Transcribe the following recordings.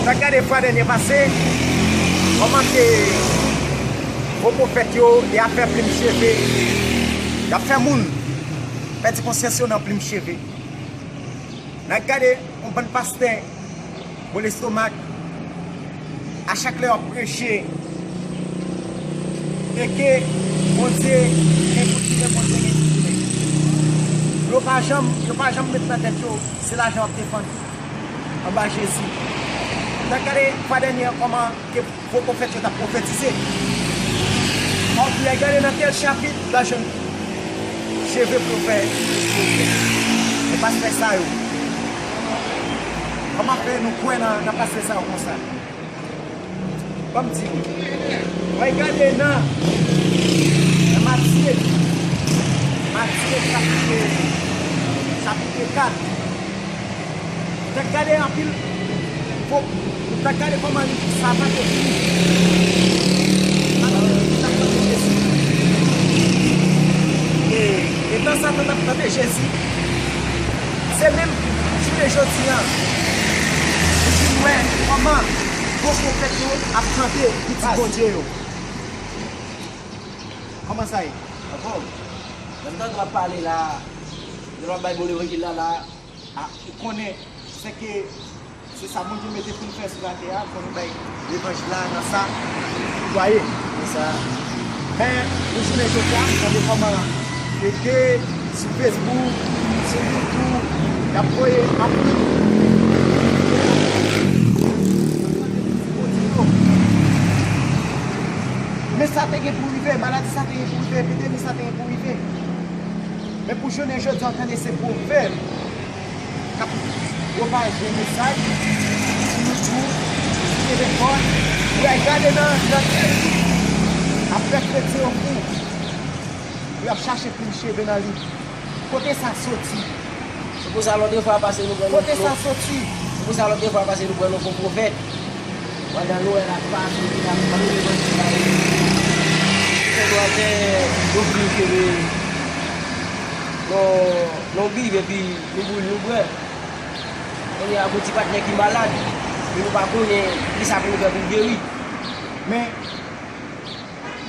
Sa gade fwa dènye pase, kòman se gwo pwofèt yo, y ap fè plim cheve, y ap fè moun pèdi konsyans yo nan plim cheve. N a gade yon bann pastè. Bon lestomak a chak lè wap preche teke bondye gen pou tounen bondye gen pou tounen yo pa janm yo pa janm met nan tèt yo se lajan wap defann anba jezi nan gade fwa dènyè kòman ke Fo pwofèt yo tap pwofetize. Anpl gade nan tel chapit la jwenn cheve pou yo fè silvouplè. Se pastè sa yo. Koman fè nou kwè nan pastè sa yo konsa. Banm di nou. Mwen gade nan nan matye matye chapit chapit 4. Dak gade anpil Ko dak gade koman li savan te fini Madanm Mimi tap tande Jezi E etan Satan tap tande Jezi Se menm jounen jodi an Nou vin wè koman Fo pwofèt yo ap tande pitit Bondye yo Koman sa ye Ankò Lèm tande wap pale la Lè map bay bole regil la la a ou konnen se ke se sa Bondye mete poun fè sou latè a fò nou bay levanjil la nan sa nou kwaye nan sa men pou jounen jodia gade kòman ke ke sou fesbouk sou youtou yap voye anpil anpil men sa te gen pou rive maladi sa te gen pou rive epidemi sa te gen pou rive. Men pou jounen jodi an tande se pwovèb k ap pwopaje mesaj pou nou tou sere kò n. Ou al gade nan Ekriti ap fè kretyen yo kou pou y ap chache plim cheve nan li. Kote sa soti? Se pou sa lòt de fwa pase nou pran yon fo pwovèb. Pandan Noel ap pase se nan bann revandye sa yo pou ti senwa fè yon pil kebe nan bib epi nou boule nou bwè. Kounye a pou ti patnè ki malad e nou pa konnen kisa pou nou fè pou l geri. Men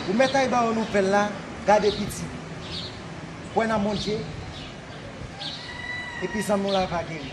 pou mèt ay ba ou nouvèl la gade pitit. Kwè nan Bondye epi zanmi w la va geri.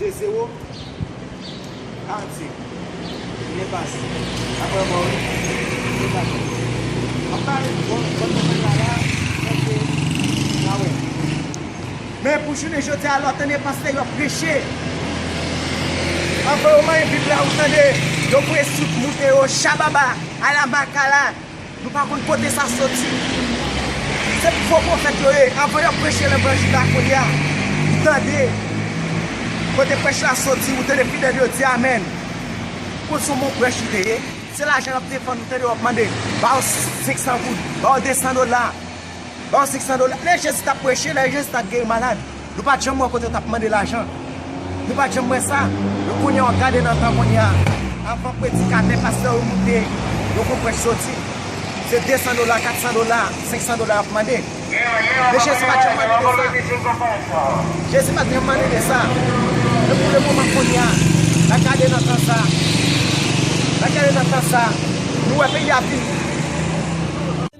2 zero Adye Ou byen pase Aprè mò wi Ou pa janm di An pa e bon bon nouvèl la la Ok Na wè Men pou jounen jodi a lè w tande panse yo ap preche Anvan yo manyen bib la ou tande yo pwese tout moute yo Shababa Ala makala. Nou pa konn kote sa soti. Se fo pwofèt yo ye. Anvan yo preche levanjil la kounye a, tande kote prèch la soti. Ou tande fidèl yo di amèn. Ou konn son bon prèch li te ye? Se lajan lap defann ou tande wap mande ba yo 500 goud, ba yo 200 dola, ba yo 500 dola. Lè Jezi tap preche, lè Jezi tap geri malad. Nou pat janm wè kote yo tap mande lajan. Nou pat janm wè sa. Men kounye a w gade nan tan kounye a, avan predikatè, pastè yo moute yon kou prèch soti, se 200 dola, 400 dola, 500 dola y ap mande. Men Jezi pat janm mande de sa. Jezi pat janm mande de sa. Men pou lemoman kounye a, n a gade nan tan sa, n a gade nan tan sa, nou wè peyi a ap vini.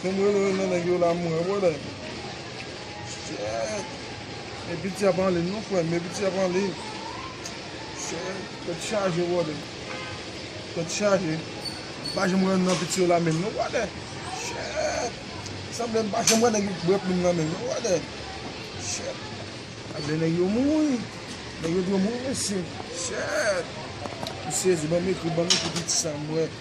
Fem rele yo nan neg yo la m wè brother. Shit. E piti ap anlin non frem. E piti ap anlin. Shit. Tet chaje brother. Tet chaje. M pa janm wè youn nan piti yo la menm non brother. Shit. Sanble m pa janm wè neg yo k bwe plim nan menm non brother. Shit. Sanble neg yo mouri. Neg yo dwe mouri mesye. Shit. M sezi banm ekri banm ekri piti sa m wè.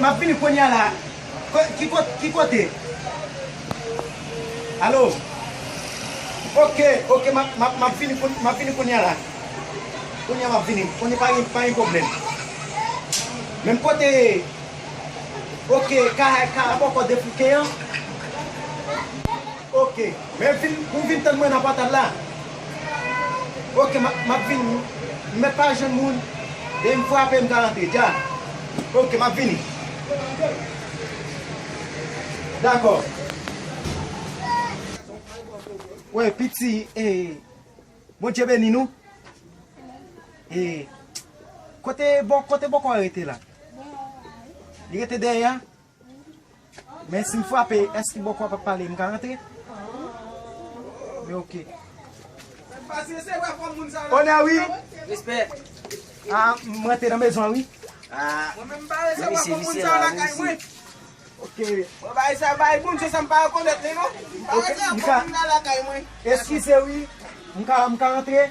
Map vini kounya la ki kote allo ok ok map vini kounya la kounya map vini kounya pa gen problem menm kote ok ka a bòkò debouke an. Ok men vin ou vin tann mwen nan pòtal la ok map vin m mèt pa jwenn moun lè m frape m ka antre dja ok map vini dakò wè piti ee bondye beni nou ee kote bò kote bòkò rete la li rete dèyè a. Men sim frape es ki bò kwa pap pale m ka rantre? Men ok. Onè wi. A m rantre nan mezon an wi. Eskize wi. M ka rantre?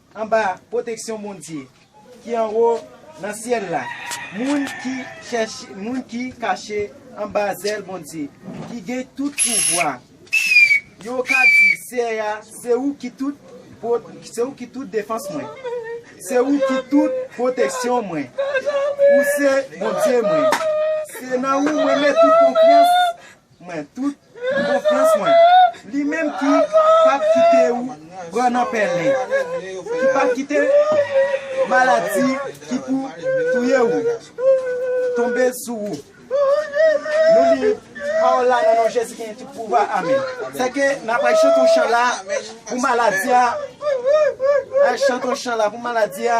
Anba pwoteksyon Bondye ki anwo nan syèl la, moun ki chèche, moun ki kache anba zèl Bondye ki gen tout pouvwa yo ka di, Seyè a, se ou ki tout se ou ki tout defans mwen, se ou ki tout pwoteksyon mwen, ou se Bondye mwen, se nan ou mwen met tout konfyans mwen tout konfyans mwen li menm ki pap kite ou pran nan pèlen ki pap kite maladi ki pou touye ou tonbe sou ou nou li pawòl la nan non Jezi ki gen tout pouvwa amen se ke na pral chante yon chan la pou maladi a na chante yon chan la pou maladi a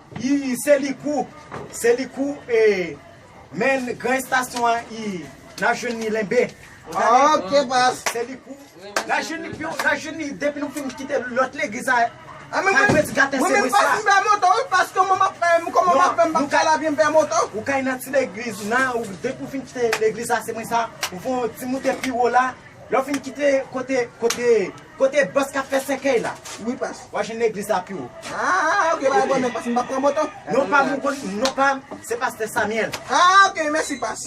Ii se li kou se li kou ee men gran estasyon an ii nap jwenn li lenbe ok pas se li kou nap jwenn li piu nap jwenn li depi nou fin kite lot legliz sa a mwen menm pati gaten se mwen sa mwen menm pati pè moto wi pas koman map fè m koman map fè m pap ka la vye m pè moto ou ka nan ti legliz nan depi ou fin kite legliz sa se mwen sa ou fon ti moute piwo la Lè w fin kite kote kote kote bòs kap fè sèkèy la wi pas wap jwenn legliz la pi wo. Ah ok bagay bon nèt pas m pap pran moto. Non pam ou konn non pam se pastè Samuel. Ah ok mèsi pas.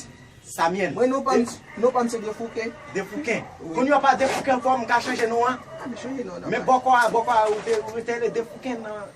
Samuel. Mwen non pam non pam se Defouken. Defouken. Kounya w pa Defouken ankò m ka chanje non an. Chanje non an. Men bòkò a bòkò a ou te rele Defouken nan.